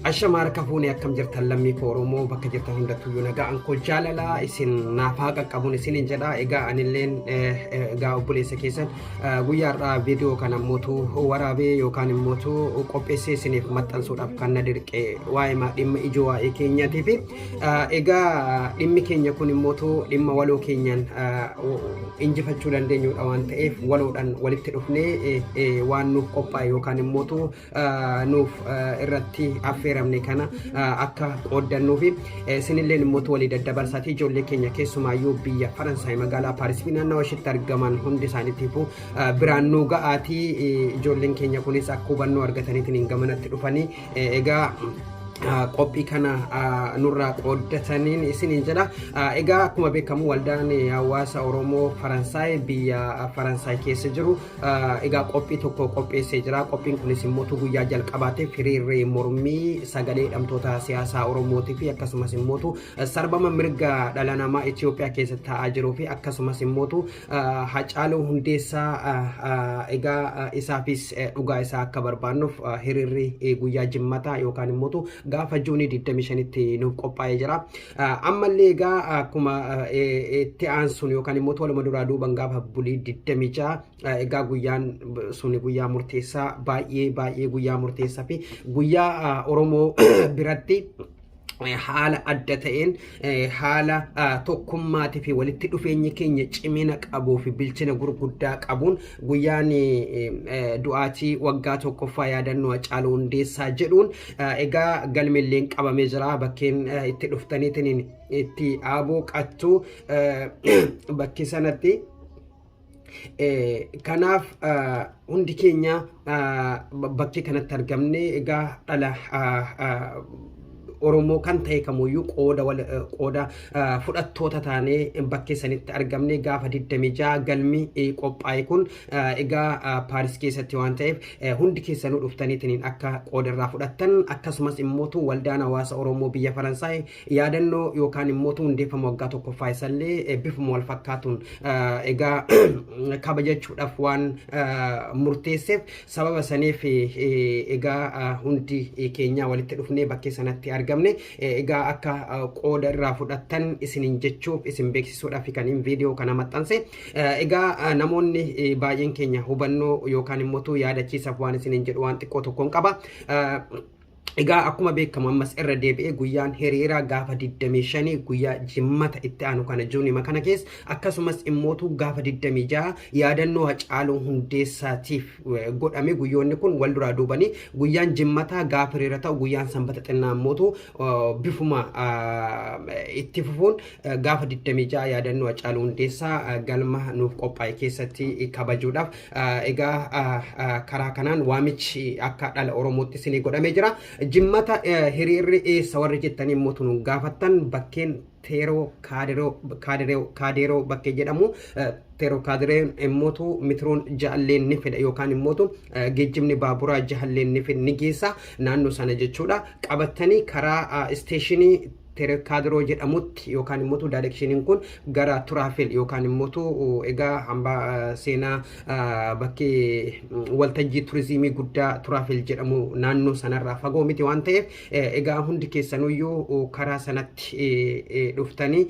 Ashama harka fuune akkam jirtan lammii koo Oromoo bakka jirtan hundattuyyuu nagaan koo jaalalaa isin naaf haa qaqqabuun isinin jedha egaa anilleen egaa obboleessa keessan guyyaarraa viidiyoo kana mootu waraabee yookaan immootu qopheessee isiniif maxxansuudhaaf kan na dirqe waa'ima dhimma ijoo waa'ee keenyaatiif egaa dhimmi keenya kun immootu dhimma waloo keenyaan injifachuu dandeenyudha waan ta'eef waloodhaan walitti dhufnee waan nuuf qophaa'e yookaan immootu nuuf irratti affeeramne kana akka qooddannuu fi sinilleen immoo walii daddabarsaatii ijoollee keenya keessumaayyuu biyya Faransaay magaalaa Paaris fi naannawa ishiitti argaman hundi isaaniitiifuu biraan nuu ga'aatii ijoolleen keenya kunis akka hubannoo argataniitiin hin gamanatti dhufanii egaa qophii kana nurraa qooddataniin isiniin jedha. Egaa akkuma beekamu waldaan hawaasa Oromoo Faransaay biyya Faransaay keessa jiru Egaa qophii tokko qopheessee jira. Qophiin kunis immoo utuu guyyaa jalqabaatiif hiriirri mormii sagalee hidhamtoota siyaasaa Oromootii fi akkasumas immoo utuu sarbama mirga dhala namaa Itoophiyaa keessatti ta'aa jiruu fi akkasumas immoo utuu Hacaaluu Hundeessaa egaa isaafis dhugaa isaa akka barbaannuuf hiriirri guyyaa jimmataa yookaan immoo utuu gaafa juunii 25tti nuuf qophaa'ee jira. Ammallee egaa akkuma itti aansuun yookaan immoo tola duraa duuban gaafa bulii 26 egaa guyyaan suni guyyaa murteessaa baay'ee baay'ee guyyaa murteessaa fi guyyaa Oromoo biratti haala adda ta'een haala tokkummaatii fi walitti dhufeenyi keenya cimina qabuu fi bilchina gurguddaa qabuun guyyaan du'aatii waggaa tokkoffaa yaadannoo Hacaaluu Hundeessaa jedhuun Egaa galmeelleen qabamee jira bakkeen itti dhuftaniitiin itti aaboo qattuu bakki sanatti kanaaf hundi keenya bakkee kanatti argamne egaa dhala Oromoo kan ta'e kamuyyuu qooda wal qooda fudhattoota taanee bakkee sanitti argamne gaafa 26 galmi qophaa'e kun Egaa Paaris keessatti waan ta'eef hundi keessanuu dhuftaniitiin akka qoodarraa fudhattan akkasumas immootu waldaan hawaasa Oromoo biyya Faransaay yaadannoo yookaan immootu hundeeffama waggaa tokkoffaa isallee bifuma wal fakkaatuun egaa kabajachuudhaaf waan murteesseef sababa saniif egaa hundi keenyaa walitti dhufnee bakkee sanatti argamne egaa akka qooda irraa fudhattan isinin jechuuf isin beeksisuudhaaf kaniin viidiyoo kana maxxanse Egaa namoonni baay'een keenya hubannoo yookaan immoo tuu yaadachiisaaf waan isiniin jedhu waan xiqqoo tokkoon qaba. Egaa akkuma beekamu ammas irra deebi'ee guyyaan hiriiraa gaafa 25 guyyaa jimmata itti aanu kana juunima kana keessa akkasumas immootu gaafa 26 yaadannoo hacaaluu hundeessaatiif godhame guyyoonni kun wal duraa duubanii guyyaan jimmataa gaafa hiriira ta'u guyyaan sanbata xinnaa immootu bifuma itti fufuun gaafa 26 yaadannoo Hacaaluu Hundeessaa galma nuuf qophaa'e keessatti kabajuudhaaf egaa karaa kanaan waamichi akka dhala Oromootti isinii godhamee jira. Jimmata hiriirri eessa warri jettanii immoo tunuun gaafattan bakkeen teeroo kaadeeroo bakkee jedhamu teeroo kaadireen immootu mitiroon jaalleen ni fida yookaan immootu geejjibni baaburaa jaalleen ni geessa naannoo sana jechuudha qabattanii karaa isteeshinii Terekaadiroo jedhamutti yookaan immoo daayireekshiniin kun gara Turaafel yookaan immoo egaa hambaa seenaa bakkee waltajjii turizimii guddaa Turaafel jedhamu naannoo sanarraa fagoo miti waan ta'eef egaa hundi keessanuyyuu karaa sanatti dhuftanii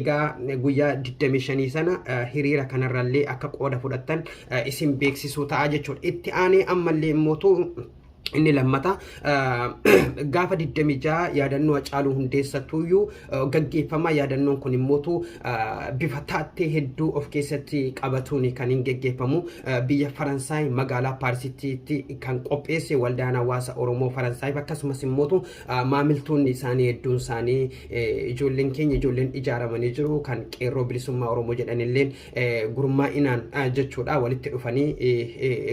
egaa guyyaa 25 sana hiriira kanarrallee akka qooda fudhattan isin beeksisuu ta'a jechuudha. Itti aanee ammallee immoo Inni lammata gaafa 26 yaadannoo Hacaaluu Hundeessattuyyuu gaggeeffama. Yaadannoon kun immootu bifa taattee hedduu of keessatti qabatuun kan hin geggeeffamu. Biyya Faransaay magaalaa Paarisitti kan qopheesse waldaan hawaasa Oromoo Faransaayif akkasumas immootu maamiltoonni isaanii hedduun isaanii ijoolleen keenya ijoolleen ijaaramanii jiru kan qeerroo bilisummaa Oromoo jedhanilleen gurmaa'inaan jechuudha walitti dhufanii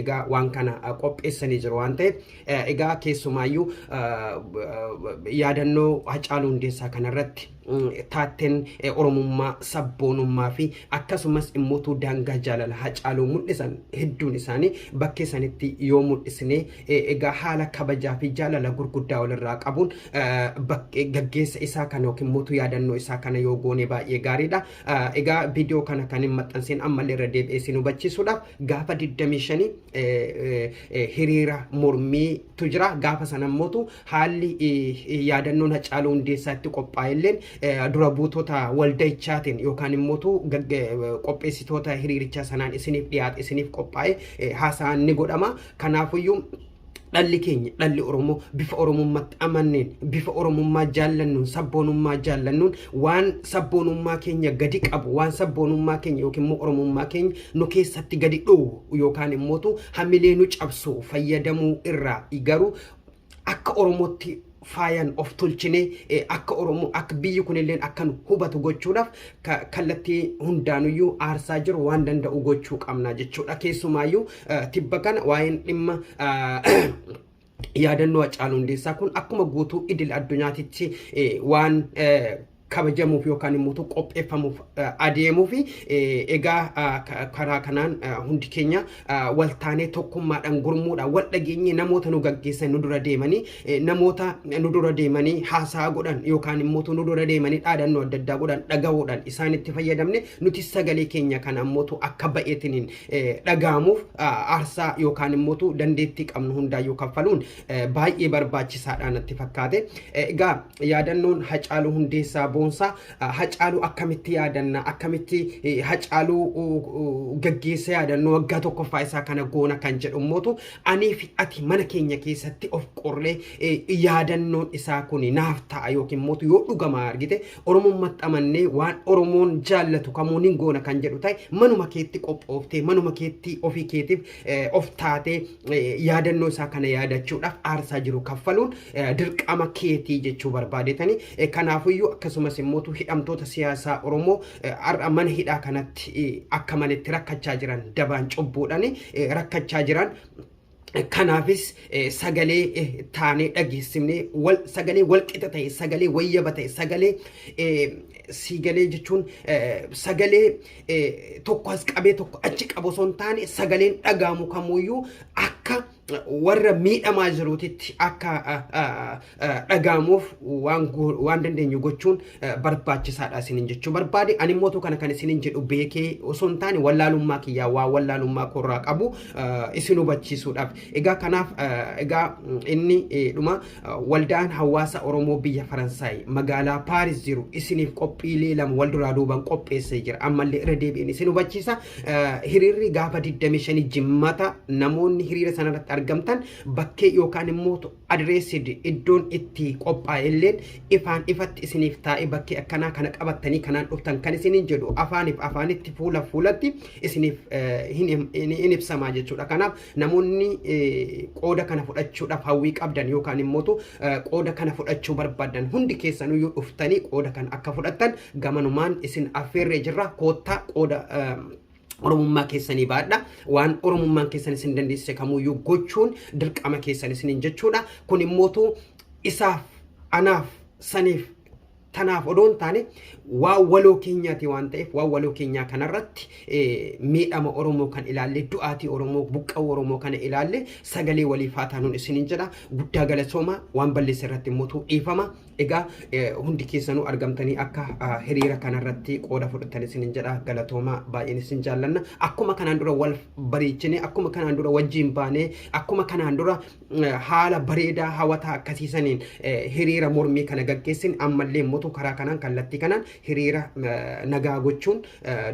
egaa waan kana qopheessanii jiru waan ta'eef egaa keessumaayyuu yaadannoo Hacaaluu Hundeessaa kanarratti taatteen Oromummaa sabboonummaa fi akkasumas immoo daangaa jaalala Hacaaluu mul'isan hedduun isaanii bakkee sanitti yoo mul'isne egaa haala kabajaa fi jaalala gurguddaa walirraa qabuun gaggeessa isaa kana yookiin mootu yaadannoo isaa kana yoo goone baay'ee gaariidha. Egaa viidiyoo kana kan hin maxxansin ammallee irra deebi'ee isin hubachiisuudhaaf gaafa 25 hiriira mormiitu jira. Gaafa sana mootu haalli yaadannoon Hacaaluu Hundeessaa itti qophaa'elleen dura buutota walda'ichaatiin yookaan immootu qopheessitoota hiriirichaa sanaan isiniif dhiyaate isiniif qophaa'e haasaan ni godhama. Kanaafuyyuu Dhalli keenya, dhalli Oromoo bifa Oromummatti amanneen, bifa Oromummaa jaallannuun, sabboonummaa jaallannuun waan sabboonummaa keenya gadi qabu, waan sabboonummaa keenya yookiin immoo Oromummaa keenya nu keessatti gadi dhoowwu yookaan immootu hamilee nu cabsu fayyadamuu irraa garuu akka Oromootti faayan of tolchinee eh, akka Oromoo akka biyyi kunilleen akka nu hubatu gochuudhaaf ka- kallattii hundaanuyyuu aarsaa jiru waan danda'u gochuu qabna jechuudha. Keessumaayyuu eh, tibba kana waa'een dhimma eh, yaadannoo Hacaaluu Hundeessaa kun akkuma guutuu idil addunyaatitti eh, waan eh, kabajamuuf yookaan immoo utuu qopheeffamuuf eh, adeemuuf eh, egaa ah, ka- karaa kanaan ah, hundi keenya ah, wal taanee tokkummaadhaan gurmuudhaan wal dhageenyee namoota nu gaggeessan nu dura deemanii eh, namoota nu dura deemanii haasaa godhan yookaan immoo utuu nu dura deemanii dhaadannoo adda addaa godhan dhagahuudhaan isaanitti fayyadamne nuti sagalee keenya kana immoo utuu akka ba'eetiniin eh, dhaga'amuuf ah, aarsaa yookaan immoo utuu dandeettii qabnu hundaayyuu kaffaluun eh, baay'ee barbaachisaadha natti fakkaate Eh, egaa yaadannoon Hacaaluu Hundeessaa Boonsaa Hacaaluu akkamitti yaadanna akkamitti Hacaaluu gaggeessa yaadannoo waggaa tokkoffaa isaa kana goona kan jedhu mootu anii fi ati mana keenya keessatti of qorree yaadannoon isaa kun naaf ta'a yookiin mootu yoo dhugamaa argite Oromoon maxxamannee waan Oromoon jaallatu kamuun hin goona kan jedhu ta'e manuma keetti qophooftee manuma keetti ofii keetiif of taatee yaadannoo isaa kana yaadachuudhaaf aarsaa jiru kaffaluun dirqama keetii jechuu barbaadetanii kanaafuyyuu akkasumas immoo hidhamtoota siyaasaa Oromoo har'a mana hidhaa kanatti akka maletti rakkachaa jiran dabaan cubbuudhaan rakkachaa jiran kanaafis sagalee taanee dhageessifnee wal sagalee wal qixa ta'e sagalee wayyaba ta'e sagalee siigalee jechuun sagalee tokko as qabee tokko achi qabu osoo hin taane sagaleen dhagaamu kamuyyuu akka warra miidhamaa jiruutitti akka dhagaamuuf waan dandeenyu gochuun barbaachisaadha isinin jechuu barbaade ani mootu kana kan isinin jedhu beekee osoo hin taane wallaalummaa kiyyaa waa wallaalummaa koorraa qabu isin hubachiisuudhaaf egaa kanaaf egaa inni dhuma Waldaan Hawaasa Oromoo Biyya Faransaay magaalaa Paaris jiru isiniif qophiilee lama wal duraa duuban qopheessee jira. Ammallee irra deebi'een isin hubachiisa. Hiriirri gaafa 25 jimmata namoonni hiriira sanarratti argamtan bakkee yookaan immoo adireessid iddoon itti qophaa'e illeen ifaan ifatti isiniif taa'ee bakkee akkanaa kana qabattanii kanaan dhuftan kan isiniin jedhu afaaniif afaanitti fuula fuulatti isiniif hin ibsamaa jechuudha. Kanaaf Namoonni qooda kana fudhachuudhaaf hawwii qabdan yookaan immootu qooda kana fudhachuu barbaadan hundi keessanuyyuu dhuftanii qooda kana akka fudhattan gamanumaan isin affeerree jirra koottaa qooda oromummaa keessanii baadha waan oromummaan keessan isin dandeessise kamuyyuu gochuun dirqama keessan isiniin jechuudha kun immootu isaaf anaaf saniif Tanaaf odoo hin taane waan waloo keenyaati waan ta'eef waan waloo keenyaa kanarratti miidhama Oromoo kan ilaalle du'aatii Oromoo buqqa'uu Oromoo kana ilaalle sagalee waliif haa taanuun isiniin jedha guddaa galatoomaa waan balleesse irratti mootuu dhiifama egaa hundi keessanuu argamtanii akka hiriira kanarratti qooda fudhatan isiniin jedha galatoomaa baay'een isin jaallanna akkuma kanaan dura wal bareechinee akkuma kanaan dura wajjin baanee akkuma kanaan dura haala bareedaa hawataa akkasii saniin hiriira mormii kana gaggeessin ammallee immoo karaa kanaan kallattii kanaan hiriira nagaa gochuun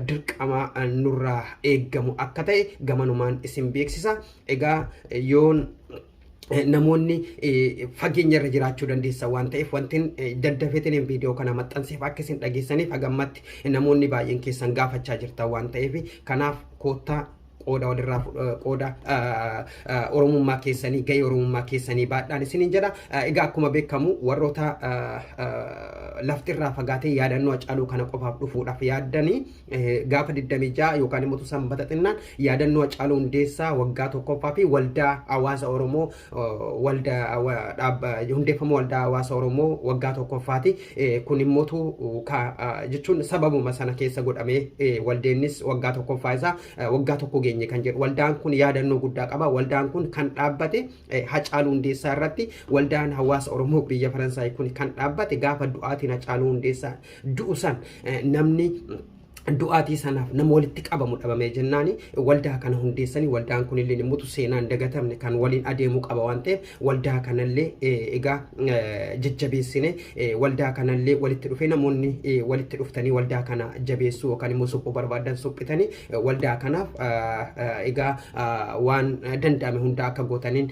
dirqama nurraa eeggamu akka ta'e gamanumaan isin beeksisa. Egaa yoon namoonni fageenya irra jiraachuu dandeessa waan ta'eef wantin daddafeetiin viidiyoo kana maxxanseef akka isin dhageessaniif hagammatti namoonni baay'een keessan gaafachaa jirtan waan ta'eef kanaaf koottaa qooda walirraa qooda oromummaa keessanii gahee oromummaa keessanii baadhaan isiniin jedha. Egaa akkuma beekamu warroota laftirraa fagaatee yaadannoo Hacaaluu kana qofaaf dhufuudhaaf yaaddanii gaafa 26 yookaan immoo sanbata xinnaan yaadannoo Hacaaluu Hundeessaa waggaa tokkoffaa fi waldaa hawaasa Oromoo hundeeffama waldaa hawaasa Oromoo waggaa tokkoffaati. Kun immoo jechuun sababuma sana keessa godhamee waldeennis waggaa tokkoffaa isaa waggaa tokko geenye kan jedhu. Waldaan kun yaadannoo guddaa qaba. Waldaan kun kan dhaabbate Hacaaluu Hundeessaa irratti waldaan hawaasa Oromoo biyya Faransaay kun kan dhaabbate gaafa du'aatiin Hacaaluu Hundeessaa du'u san namni du'aatii sanaaf nama walitti qabamu dhabamee jennaani waldaa kana hundeessanii waldaan kun illee mutu seenaan dagatamne kan waliin adeemuu qaba waan ta'eef waldaa kanallee egaa jajjabeessine waldaa kanallee walitti dhufee namoonni walitti dhuftanii waldaa kana jabeessuu yookaan immoo suphuu barbaadan suphitanii waldaa kanaaf egaa waan danda'ame hundaa akka gootaniin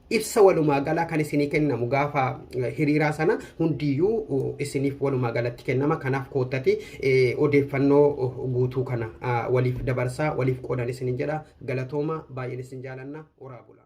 ibsa walumaa galaa kan isinii kennamu gaafa hiriiraa sana hundiyyuu isiniif walumaa galatti kennama kanaaf koottati odeeffannoo guutuu kana waliif dabarsaa waliif qoodan isinin jedha galatooma baay'een isin jaalanna horaa bulaa.